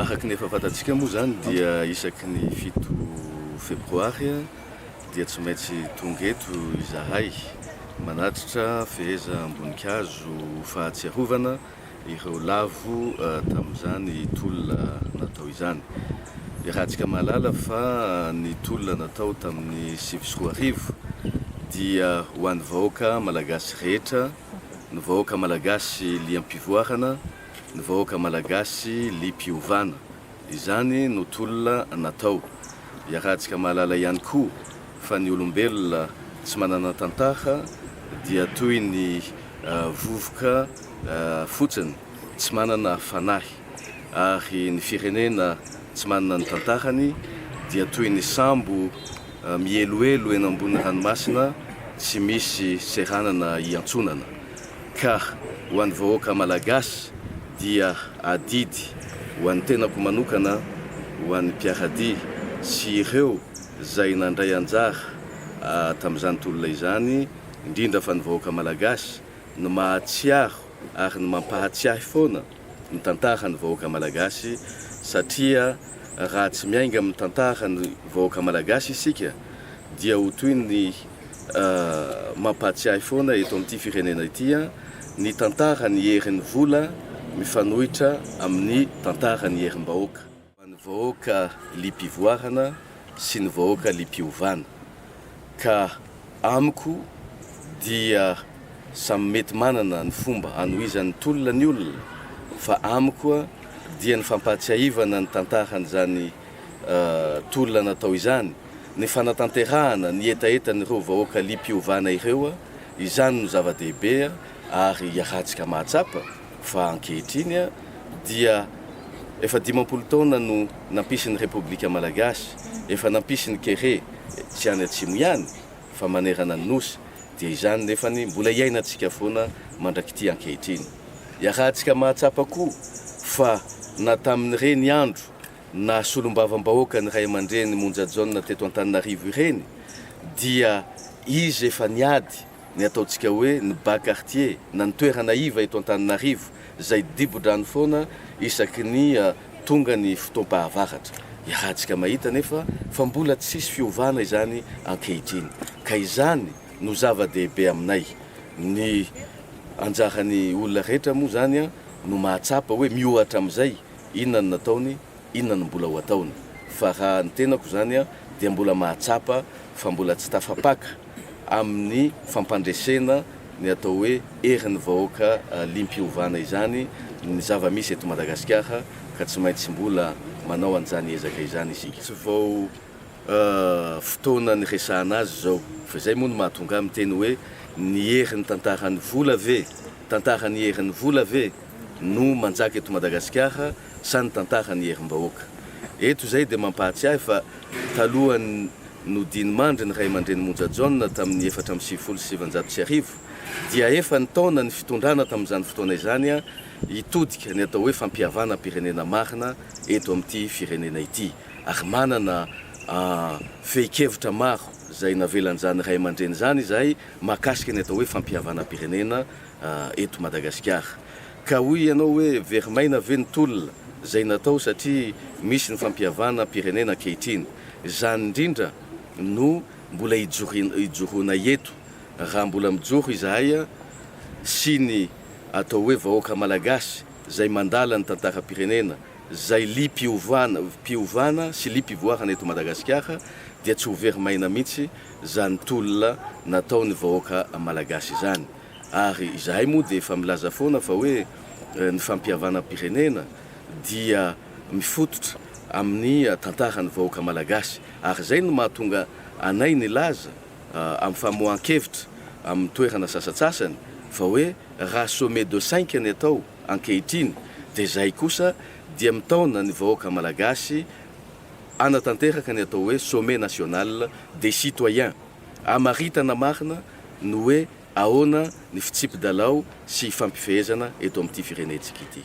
Araka ny efa fantatsika moa izany dia isaky ny fito febroary dia tsy maintsy tonga eto izahay manatritra fehezam-boninkazo fahatsiarovana ireo lavo eh, tamin'izany tolona natao izany. Iarahantsika mahalala fa ny tolona natao tamin'ny sivy sy roa arivo dia ho an'ny vahoaka malagasy rehetra, ny vahoaka malagasy liam-pivoarana ny vahoaka malagasy liam-piovana. Izany no tolona natao. Iarahantsika mahalala ihany koa fa ny olombelona tsy manana tantara dia toy ny vovoka fotsiny tsy manana fanahy ary ny firenena tsy manana ny tantarany dia toy ny sambo mihelohelo eny ambony ranomasina tsy misy seranana iantsonana. Ka ho an'ny vahoaka Malagasy dia adidy ho an'ny tenako manokana, ho an'ny mpiara-dia sy ireo izay nandray anjara tamin'izany tolona izany, indrindra fa ny vahoaka Malagasy no mahatsiaro ary ny mampahatsiahy foana, ny tantaran'ny vahoaka malagasy satria raha tsy miainga amin'ny tantaran'ny vahoaka malagasy isika dia ho toy ny mampahatsiahy foana eto amin'ity firenena ity ny tantaran'ny herin'ny vola mifanohitra amin'ny tantaran'ny herim-bahoaka. Ho an'ny vahoaka liam-pivoarana sy ny vahoaka liam-piovana. Ka amiko dia samy mety manana ny fomba hanohizan'ny tolona ny olona fa amiko dia ny fampahatsiahivana ny tantaran'izany tolona natao izany, ny fanatanterahana ny hetahetan'ireo vahoaka liam-piovana ireo, izany no zava-dehibe ary iarahantsika mahatsapa. fa ankehitriny dia efa dimampolo taona no nampisy ny Repoblika Malagasy, efa nampisy ny kere tsy any atsimo ihany fa manerana ny Nosy, dia izany nefany mbola iainantsika foana mandrak'ity ankehitriny. Iarahantsika mahatsapa koa fa na tamin'ireny andro naha solombavambahoaka ny ray aman-dreny Monja Jaona teto Antananarivo ireny dia izy efa niady, ny ataontsika hoe ny bas quartier na ny toerana iva eto Antananarivo izay dibo-drano foana isaky ny tonga ny fotoam-pahavaratra. Iarahantsika mahita anefa fa mbola tsisy fiovana izany ankehitriny ka izany no zava-dehibe aminay. Ny anjaran'ny olona rehetra moa izany no mahatsapa hoe miohatra amin'izay inona no nataony Inona no mbola ho ataony? Fa raha ny tenako izany dia mbola mahatsapa fa mbola tsy tafapaka amin'ny fampandresena ny atao hoe herin'ny vahoaka liam-piovana izany ny zava-misy eto Madagasikara ka tsy maintsy mbola manao an'izany ezaka izany isika. Tsy vao fotoana niresahana azy izao fa izay moa no mahatonga ahy miteny hoe ny herin'ny tantaran'ny vola ve, tantaran'ny herin'ny vola ve no manjaka eto Madagasikara? sa ny tantaran'ny herim-bahoaka. Eto izay dia mampahatsiahy fa talohan'ny nodinimandry ny ray aman-dreny Monja Jaona tamin'ny efatra amby sivifolo sy sivinjato sy arivo dia efa nitaona ny fitondrana tamin'izany fotoana izany hitodika ny atao hoe fampihavanam-pirenena marina eto amin'ity firenena ity ary manana fehin-kevitra maro izay navelan'izany ray aman-dreny izany izahay mahakasika ny atao hoe fampihavanam-pirenena eto Madagasikara. Ka hoy ianao hoe very maina ve ny tolona izay natao satria misy ny fampihavana pirenena ankehitriny. Izany indrindra no mbola hijoroanay eto raha mbola mijoro izahay sy ny atao hoe vahoaka malagasy izay mandala ny tantaram-pirenena, izay liam-piovana sy liam-pivoarana eto Madagasikara dia tsy ho very maina mihitsy. zany tolona nataony vahoaka malagasy izany ary izahay moa dia efa milaza foana fa hoe ny fampihavanam pirenena dia mifototra amin'ny tantarany vahoaka malagasy ary izay no mahatonga anay nilaza amin'ny famoahan kevitra amin'ny toerana sasatsasany fa hoe raha sommet de cinq ny atao ankehitriny dia izay kosa dia mitaona ny vahoaka malagasy hanatanteraka ny atao hoe Sommet National des Citoyens hamaritana marina ny hoe ahoana ny fitsipi-dalao sy ifampifehezana eto amin'ity firenentsika ity.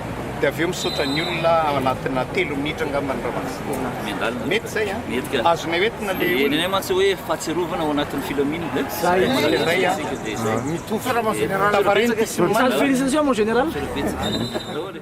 dia avy eo misaotra ny olona ao anatina telo minitra angamba ny Ramatoa Miandalina. Mety izay an? Mety ka. Azonay hoentina le Dia olona. nenay mantsy hoe fahatsiarovana ao anatin'ny filaminana. eh? Za izy Manana indray an. isika dia izay. Mitovy. Salama général. Tavariny ty sy ny Salut, manana. félicitations mon général. Betsaka. Daholo e.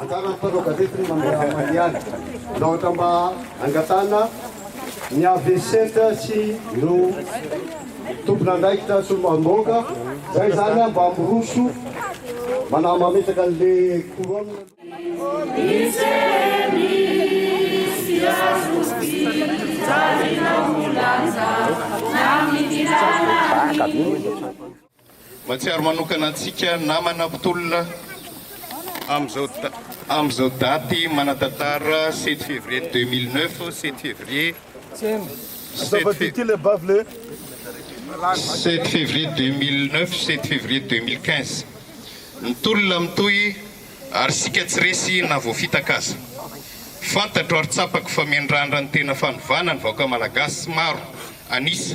Anjaran'ny mpanao gazety ny mandramany ihany raha ohatra mba hangatahana ny avc sy ireo tompon'andraikitra solombavambahoaka izay izany mba miroso manahy mametraka an'ilay couronne. Baka be. Mahatsiaro manokana antsika namana mpitolona amin'izao daty manan-tantara sept février deux mille neuf, sept février, sept février deux mille neuf, sept février deux mille quinze. Ny tolona mitohy ary isika tsy resy na voafitaka aza. Fantatro ary tsapako fa miandrandra ny tena fanovana ny vahoaka malagasy maro an'isa.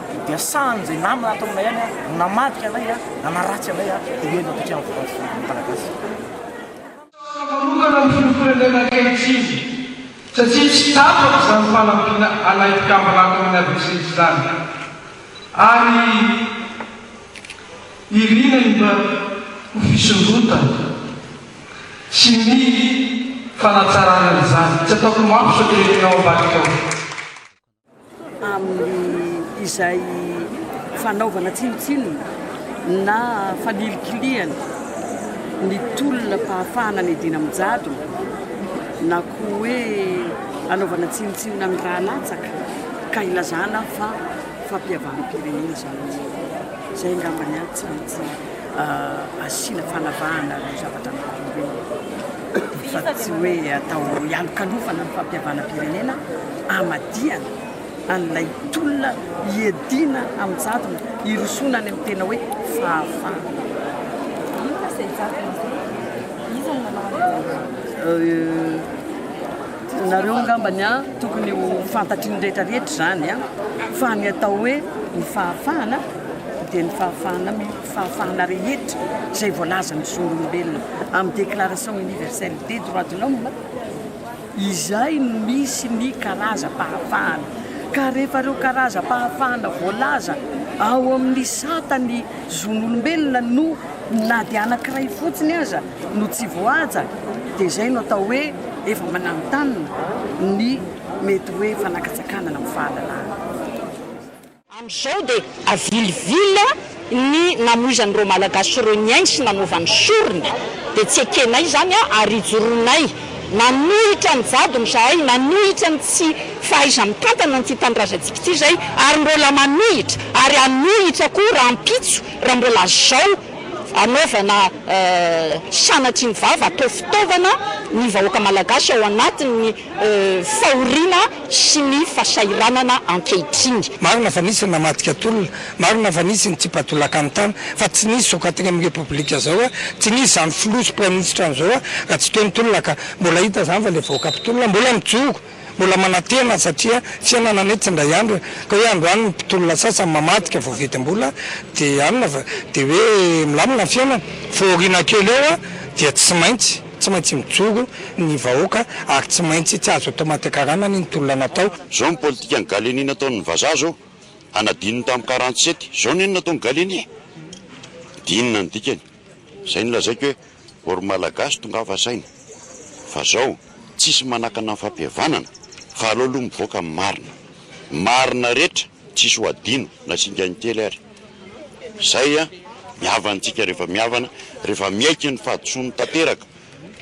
dia sahan' izay namana ato aminay any no namadika anay, nanaratsy anay, dia eny ampitry ny volan-tsoa ny Malagasy. Tsara manokana ny filohampirenena ankehitriny satria tsy tapaka izany fanampiana anay mpikambana ato amin'ny adc izany ary irina indray ho fisondrotana sy ny fanatsarana izany. Tsy ataoko mafy sao dia efa eo ambadika ao. amin'ny izay fanaovana tsinontsinona na fanilikilihana ny tolona fahafahana ny edina amin'ny jadona na koa hoe anaovana tsinontsinona ny raha latsaka ka ilazana fa fampihavanam-pirenena izany izay angambany ahy tsy maintsy asiana fanavahana ireo zavatra maro ireo fa tsy hoe atao hialokalofana ny fampihavanam-pirenena hamadihana an'ilay tolona hiadiana amin'ny jadona hirosoana any amin'ny tena hoe fahafahana. Inona izay jadona izay? Iza no nanao an'izany? nareo angambany a tokony ho fantatry ny rehetra rehetra izany a fa ny atao hoe ny fahafahana dia ny fahafahana mioty fahafahana rehetra izay voalazan'ny zon'olombelona amin'ny Déclaration Universelle des Droits de l'Homme, izay no misy ny karazam-pahafahana. Ka rehefa ireo karazam-pahafahana voalaza ao amin'ny sata ny zon'olombelona no na dia anankiray fotsiny aza no tsy voahaja, dia izay no atao hoe efa mananontanona ny mety hoe fanakatsakanana amin'ny fahalalahana. Amin'izao dia avilivily ny namoizan'ireo Malagasy ireo ny ainy sy nanaovany sorona. Dia tsy ekenay izany ary ijoroanay. Nanohitra ny jadona izahay, nanohitra ny tsy fahaiza-mitantana an'ity tanindrazantsika ity izay ary mbola manohitra ary hanohitra koa rahampitso raha mbola azao anaovana sanatria ny vava atao fitaovana ny vahoaka Malagasy ao anatin'ny fahoriana sy ny fasahiranana ankehitriny. Marina fa nisy ny namadika tolona, marina fa nisy ny tsipa-tolaka ny tany, fa tsy nisy zao katigny amin'ny repoblika zao a, tsy nisy zany filoha sy praiministra an'izao a, raha tsy teo ny tolona ka, mbola hita zany fa le vahoaka mpitolona mbola mijoro, mbola manantena satria fiainana anie tsy indray andro e, ka hoe androany ny mpitolona sasany mamadika voavidim-bola de anona fa de hoe milamina ny fiainana, fahoriana kely eo a, dia tsy maintsy. Tsy maintsy mijoro ny vahoaka ary tsy maintsy tsy azo atao matiakaranany ny tolona natao. Zao ny politikan'i Gallieni nataon'ny vazaha zao, a nadinony tamin'ny quarante sept, zao ny nataon'i Gallieni e! Dia inona ny dikany? Zay nolazaiko hoe or Malagasy tongava saina fa zao tsisy manakana ny fampihavanana fa aleo aloha mivoaka ny marina, marina rehetra, Tsisy ho hadino na singany kely ary. Izay ny havantsika rehefa mihavana, rehefa miaiky ny fahadisoany tanteraka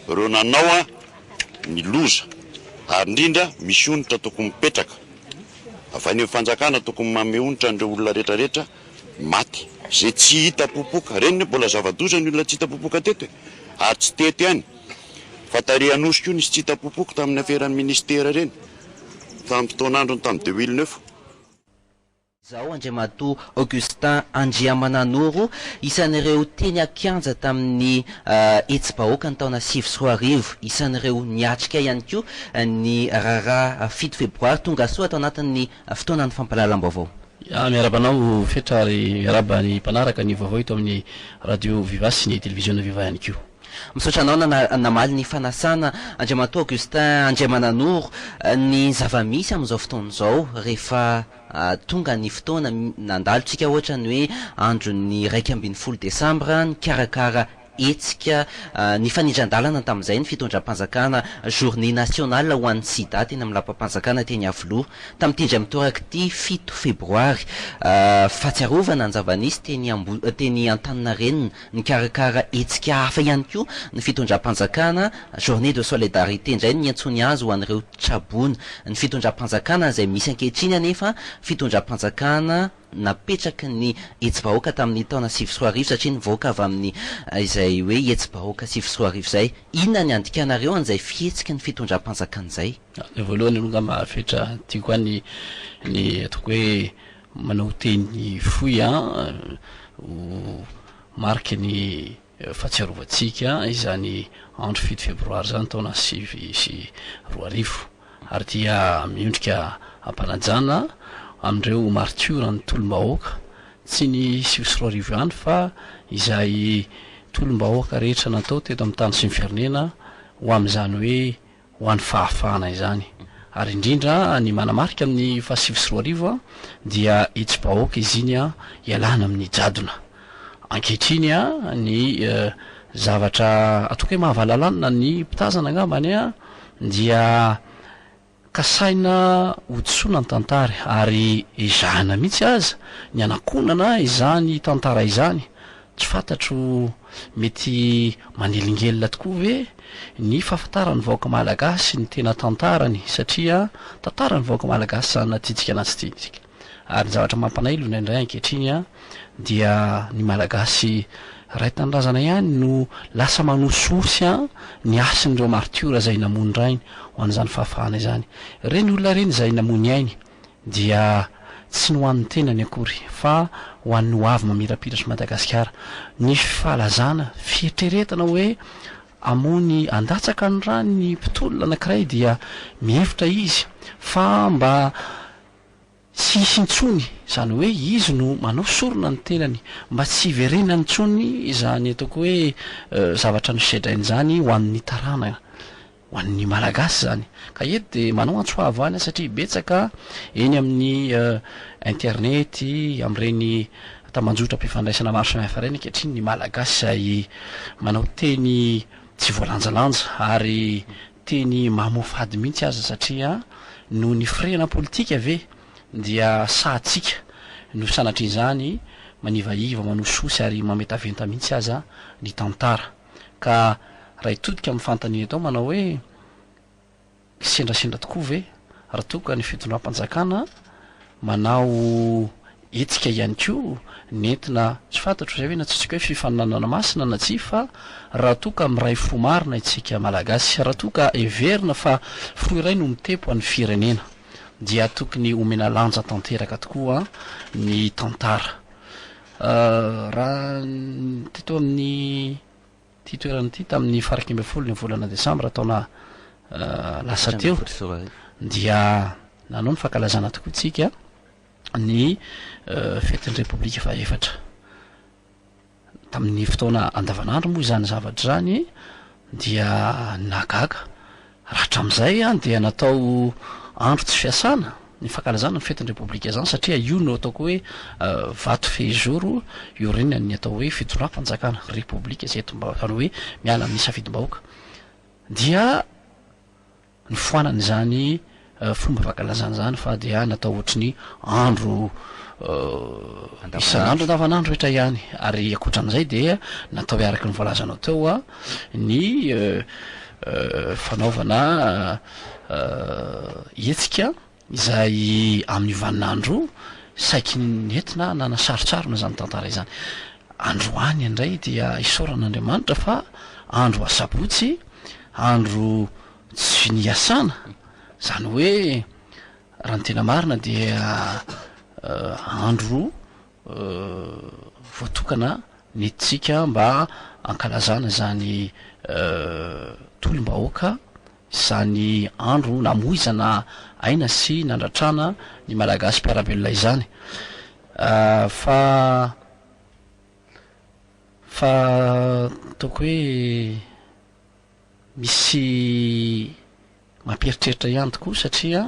ireo nanao ny loza ary indrindra misy onitra tokony mipetraka avy any amin'ny fanjakana tokony manome onitra an'ireo olona rehetra rehetra maty izay tsy hita popoka ireny ny mbola zava-doza ny olona tsy hita popoka teto e! ary tsy teto ihany fa tary Anosy koa nisy tsy hita popoka tamin'ny aferan'ny ministera ireny. Vanim-potoan'androny tamin'i de Wilneuve. Izao, Andriamatoa Augustin Andriamananoro, isan'ireo teny an-kianja tamin'ny hetsi-bahoaka ny taona sivy sy roa arivo, isan'ireo niatrika ihany koa ny raharaha fito febroary tongasoa tao anatin'ny fotoanan'ny fampahalalam-baovao. Miarahaba anao Fetra ary miarahaba ny mpanaraka ny vaovao eto amin'ny Radio Viva sy ny Televiziona Viva ihany koa. Misaotra anao namaly ny fanasana Andriamatoa Augustin Andriamananoro ny zava-misy amin'izao fotoana izao rehefa tonga ny fotoana nandalo tsika ohatra ny hoe andron'ny iraika ambin'ny folo desambra nikarakara hetsika nifanindran-dalana tamin'izay ny fitondram-panjakana journée nationale ho an'ny sida teny amin'ny lapam-panjakana teny Iavoloha tamin'ity indray mitoraka ity fito febroary fahatsiarovana ny zava-nisy teny Antaninarenina Mikarakara hetsika hafa ihany koa ny fitondram-panjakana, Journée de solidarité indray no niantsoany azy ho an'ireo tra-boina. Ny fitondram-panjakana izay misy ankehitriny anefa, fitondram-panjakana napetraky ny hetsibahoaka tamin'ny taona sivy sy roa arivo satria nivoaka avy amin'ny izay hoe hetsibahoaka sivy sy roa arivo izay. Inona ny andikanareo an'izay fihetsiky ny fitondram-panjakana izay? Ny voalohany aloha angamba fetra tiako any ny ataoko hoe Manao teny fohy ho mariky ny fahatsiarovantsika izany andro fito febroary izany taona sivy sy roa arivo ary dia miondrika am-panajana amin'ireo martioran'ny tolom-bahoaka, tsy ny sivy sy roa arivo ihany fa izay tolom-bahoaka rehetra natao teto amin'ny tany sy ny firenena ho amin'izany hoe ho an'ny fahafahana izany ary indrindra ny manamarika ny fahasivy sy roa arivo dia itsy bahoaka izy iny an ialana amin'ny jadona ankehitriny an ny zavatra ataoko hoe mahavalalanina ny mpitazana angambany an dia kasaina hodisoana ny tantara ary ezahina mihitsy aza ny anakonana izany tantara izany Tsy fantatro, mety manelingelina tokoa ve ny fahafantaran'ny vahoaka malagasy ny tena tantarany satria tantaran'ny vahoaka malagasy izany na tiantsika na tsy tiantsika. Ary ny zavatra mampanailona indray ankehitriny dia ny malagasy ray tanindrazana ihany no lasa manosihosy ny hasin'ireo martiora izay namoy ny rainy ho an'izany fahafahana izany. Ireny olona ireny izay namoy ny ainy. dia tsy ny ho an'ny tenany akory fa ho an'ny ho avy mamirapiratra i Madagasikara. Nisy fahalazana, fieritreretana hoe hamoa ny handatsaka ny ra ny mpitolona anankiray dia mihevitra izy fa mba tsy hisy intsony, izany hoe izy no manao sorona ny tenany, mba tsy hiverenany intsony izany ataoko hoe zavatra nosedrainy izany ho an'ny taranaka. ho an'ny Malagasy izany. Ka eto dia manao antso fahavahana satria betsaka eny amin'ny internety, amin'ireny tambanjotram-pifandraisana maro samihafa ireny ankehitriny ny Malagasy izay manao teny tsy voalanjalanja ary teny mamoafady mihitsy aza satria noho ny firehana politika ve dia sahatsika no sanatrian'izany manivaiva, manosihosy ary mametaventa mihitsy aza ny tantara. Ka Raitodika amin'ny fanontaniana eto manao hoe, Hisendrasendra tokoa ve raha toa ka ny fitondram-panjakana manao hetsika ihany koa nentina, tsy fantatro izay ve no antsointsika hoe fifaninanana masina na tsia, fa raha toa ka miray fo marina isika Malagasy, raha toa ka heverina fa fo iray no mitepo an'ny firenena dia tokony homena lanja tanteraka tokoa ny tantara. Raha teto amin'ity toerana ity tamin'ny faraika ambin'ny folo ny volana desambra taona lasa teo dia nanao ny fankalazana tokoa tsika ny fetin'ny repoblika fahaefatra tamin'ny fotoana andavanandro moa izany zavatra izany dia nagaga Raha hatramin'izay dia natao andro tsy fiasana ny fankalazana ny fetin'ny Repoblika izany satria io no ataoko hoe vato fehizoro iorenan'ny atao hoe fitondram-panjakana, Repoblika izay eto izany hoe miala amin'ny safidim-bahoaka dia nifoanana izany fomba fankalazana izany fa dia natao ohatry ny andro isan'andro andavanandro rehetra ihany ary ankoatran'izay dia natao araka ny voalazanao teo a ny fanaovana hetsika izay amin'ny vaninandro saiky nentina nanasarotsarona izany tantara izany androany indray dia isaorana andriamanitra fa andro asabotsy andro Tsy finiasana, zany hoe raha ny tena marina dia andro voatokana nentintsika mba hankalazana izany tolom-bahoaka, izany andro namoizana aina sy nandratrana ny Malagasy mpiara-belona izany. Fa fa ataoko hoe. Misy mampieritreritra ihany tokoa satria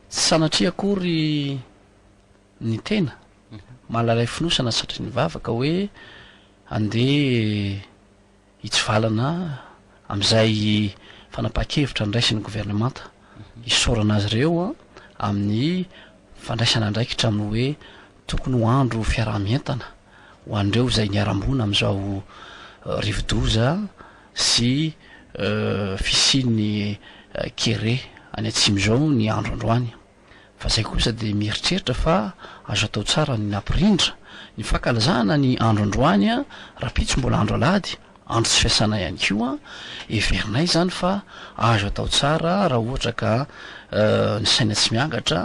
tsy sanatria akory ny tena malalay fonosana satria nivavaka hoe handeha hitsivalana amin'izay fanapahan-kevitra niraisin'ny governemanta hisaorana azy ireo amin'ny fandraisana andraikitra amin'ny hoe tokony ho andro fiaraha-mientana ho an'ireo izay niharam-boina amin'izao rivo-doza sy fisian'ny kere any atsimo izao ny andro androany fa zay kosa dia mieritreritra fa azo atao tsara ny nampirindra ny fankalazana ny andro androany rapitso mbola andro alahady andro tsy fiasana ihany koa heverinay izany fa azo atao tsara raha ohatra ka ny saina tsy miangatra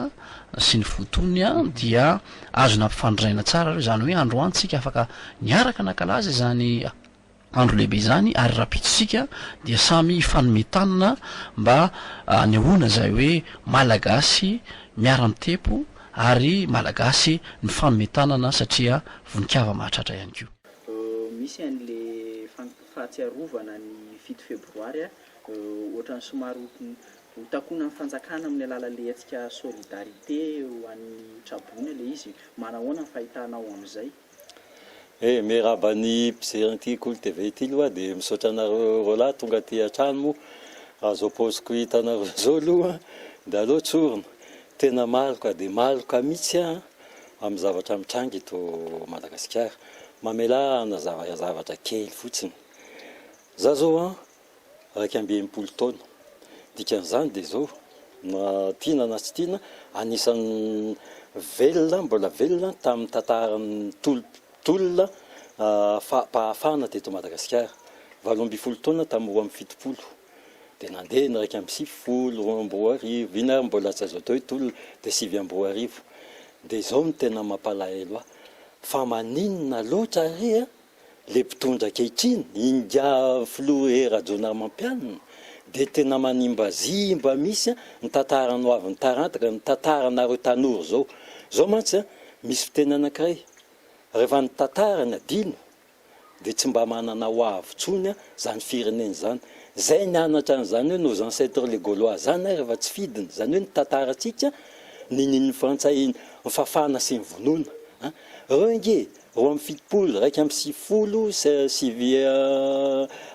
sy ny fo tony dia azo nampifandrinaina tsara izany hoe androany tsika afaka niaraka nankalaza izany Andro lehibe izany ary rahampitso isika dia samy hifanome tanana mba hanehoana izay hoe Malagasy miara-mitepo ary Malagasy mifanome tanana satria vonikava mahatratra ihany koa. Misy an le fahatsiarovana ny fito febroary ohatrany somary ho takonan'ny fanjakana amin'ny alalan'ilay hetsika solidarité ho an'ny traboina ilay izy, manahoana ny fahitanao amin'izay? E! Miarahaba ny mpijery an'ity Kolo TV ity aloha aho dia misaotra anareo roalahy tonga aty an-trano moa raha izao paoziko hitanareo izao aloha dia aleo tsorina. Tena maloka dia maloka mihitsy aho amin'ny zavatra mitranga eto Madagasikara. Mamelà hanazava zavatra kely fotsiny. Izaho izao an! iraika amby enimpolo taona. Dikan'izany dia izao, na tiana na tsy tiana, anisan'ny velona, mbola velona tamin'ny tantaran'ny tolona fahafahana teto Madagasikara. Valo ambin'ny folo taona tamin'ny roa amby fitopolo, dia nandeha ny iraika amby sivifolo, roa amby roa arivo, iny ary mbola tsy azo atao hoe tolona, dia sivy amby roa arivo. Dia izao no tena mampalahelo ahy, fa maninona loatra re a! Ilay mpitondra ankehitriny, Ingahy Filoha Hery Rajaonarimampianina, dia tena manimbazimba mihitsy ny tantarany ho avy ny taranaka, ny tantaranareo tanora izao. Izao mantsy, misy fiteny anankiray, rehefa ny tantara no adino, dia tsy mba manana ho avy intsony izany firenena izany. Izay nianatra an'izany hoe nos ancêtres les Gaulois izany rehefa tsy fidiny, izany hoe ny tantarantsika ninian'ny Frantsay nifafana sy nivonoana. Ireo ange Roa amby fitopolo iraika amby sivifolo sy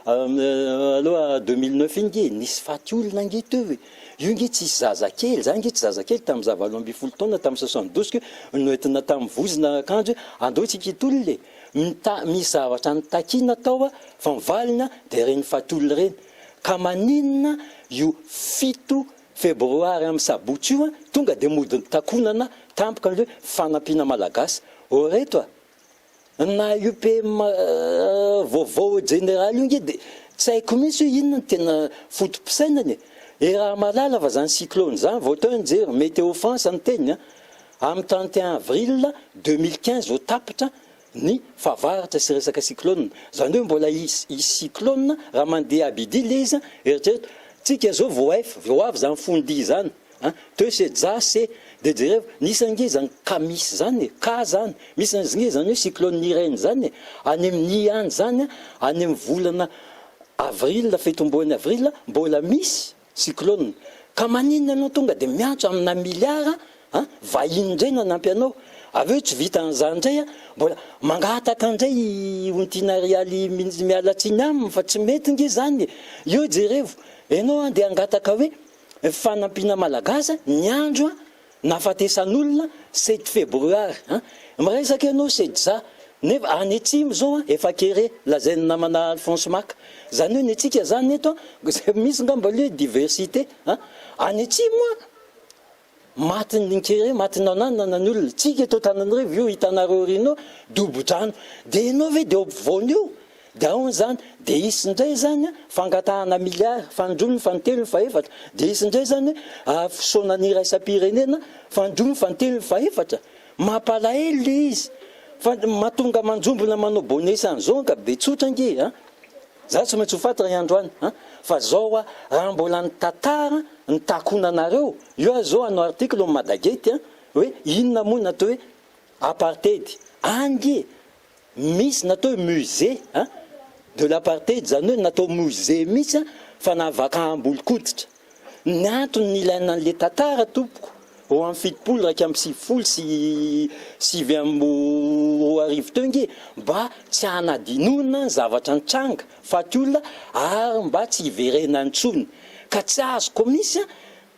aloha deux mille neuf iny nge nisy faty olona nge teo e, io nge tsisy zaza kely, za nge tsy zaza kely tamin'ny za valo ambin'ny folo taona tamin'ny soixante douze ko noentina tamin'ny vozona akanjo hoe andao tsika hitolona e, mita- misy zavatra nitakiana tao a, fa ny valiny a dia ireny faty olona ireny, ka maninona io fito Febroary am sabotsy io an, tonga de mody nitakonana tampoka ny hoe fanampiana malagasy ô reto a! Na io PM vaovao jeneraly io nge de tsy haiko mintsy hoe inona no tena fotopisainany e! I Ramalala va zany cyclone zany vao teo nijery, Météo France no niteny an! am trente et un avril deux mille quinze vao tapitra ny fahavaratra sy resaka cyclone zany hoe mbola hisy cyclone raha mandeha Abidile izy an, eritrereto tsika zao vao ef vao avy zany fond'i izany an, teo se ja se de jereo nisy ange zany ka misy zany e, ka zany misy ange zany hoe cyclone Irene zany e, any amin'i any zany an, any amin'ny volana avril fito ambony avril mbola misy Cyclone, ka maninona ianao tonga dia miantso amina milliard an, vahiny indray no hanampy anao, avy eo tsy vita an'izany indray an, mbola mangataka indray i Ontiana Rialy minisy miala tsiny aminy fa tsy mety nge izany e, eo jerevo, ianao andeha hangataka hoe fanampiana Malagasy an, ny andro an, Nahafatesan'olona sept febroary a! Miresaka ianao setzà nefa any atsimo zao a efa kere lazain'ny namana Alphonse Mac zany hoe ny antsika zany eto a misy ngamba aloha hoe diversité a! Any atsimo a matin'ny kere matin'ny ananana ny olona tsika eto Antananarivo io hitanareo ry nô dobo-drano de ianao ve de eo ampovoany eo? Dia ahoana izany? Dia hisy indray izany fangatahana milliards, fanindroany, fanintelony, fahefatra? Dia hisy indray izany ary fisaonana iraisam-pirenena, fanindroany, fanintelony, fahefatra? Mampalahelo ilay izy. Fa mahatonga manjombona manao bonesa an'izao anga be tsotra ange a! Izaho tsy maintsy ho faty ray andro any a! Fa izao hoa, raha mbola ny tantara no takonanareo, io aza izao hanao article ao Madagate a! hoe inona moa ny atao hoe apartheid any e! Misy natao hoe musée a de l'apartheid, izany hoe natao musée mihitsy a, fanavakaham-bolonkoditra. Ny antony nilaina an'ilay tantara tompoko, ho amin'ny fitopolo iraika amby sivifolo sy sivy amby roa arivo teo ange, mba tsy hanadinoana ny zavatra nitranga, faty olona, ary mba tsy hiverenany intsony. Ka tsy azoko mihitsy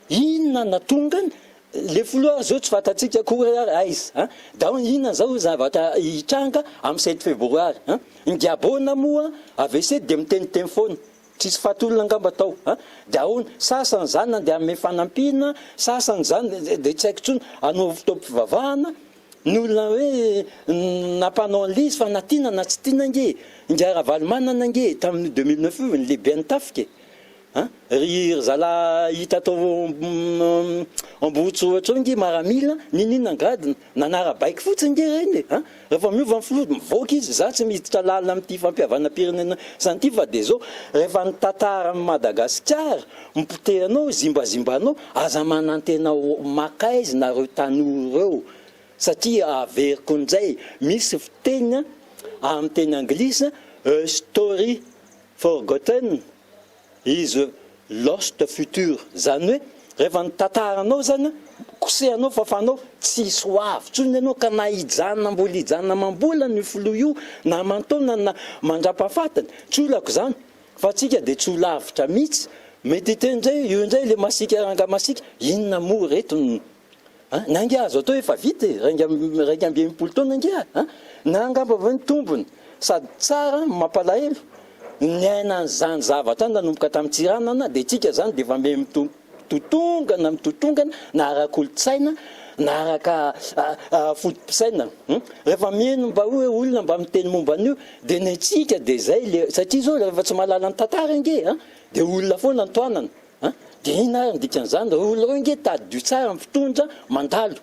Inona natongany? Le filoha zao tsy fantatsika akory ary aiza an! Dao inona zao zavatra hitranga am sept febroary an! Ny Diabona moa avc dia miteniteny foana, tsisy fahatolona angamba tao an! De ahoana? Sasany zany nandeha hanome fanampiana, sasany zany de tsy haiko tsony hanao fotoam-pivavahana, ny olona hoe nampanao anlizy fa na tiana na tsy tiana ange, ingahy Ravalomanana ange tamin'io deux mille neuf io ny lehibean'ny tafika e! A! ry zala hita tao Ambohitsy ohatra eo nge maramila, ninoninona angady nanara-baiko fotsiny nge reny e! a! rehefa miova ny filoha mivoaka izy, za tsy miditra lalina amty fampihavanam-pirenena zany ty fa de zao, rehefa ny tantara ny Madagasikara mipotehanao, zimbazimbanao, aza manantena ho makaizy nareo tanora reo satria averiko njay, misy fiteny am teny anglisy a story forgotten, is lost future zany hoe rehefa ny tantaranao zany kosehanao fafanao tsisy ho avy tsony enao ka na hijanona mbola hijanona amambolana io filoha io na amantaonany na mandrapafatiny tsy olako zany fa tsika de tsy ho lavitra mitsy mety hiteny zay io ndray le masika ranga masika inona moa reto ny Na angaha azo atao efa vita e, raika raika amby enimpolo taona angaha a! Na angamba ve ny tombony? Sady tsara, mampalahelo, ny aina an'izany zavatra any nanomboka tamin'ny Tsiranana dia isika izany dia efa mbe mitotongana mitotongana na ara-kolontsaina na araka foto-pisaina. Rehefa mino mba hoe olona mba miteny momba an'io dia ny antsika dia izay le satria izao rehefa tsy mahalala ny tantara ange a! dia olona foana ny tohanana. An! dia inona ary ny dikan'izany ry olona reo ange tadidio tsara ny fitondra mandalo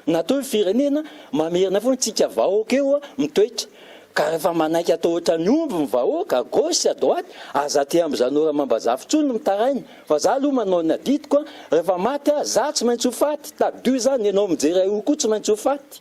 na toa io firenena mamerina foana tsika vahoaka eo mitoetra ka refa manaiky atao ohatran'ny omby ny vahoaka à gauche à droite aza aty amzanao ramambazafy tsony mitaraina fa za aloha manao ny adidiko a refa maty ah za tsy maintsy ho faty tadidio izany enao mijery ahy io koa tsy maintsy ho faty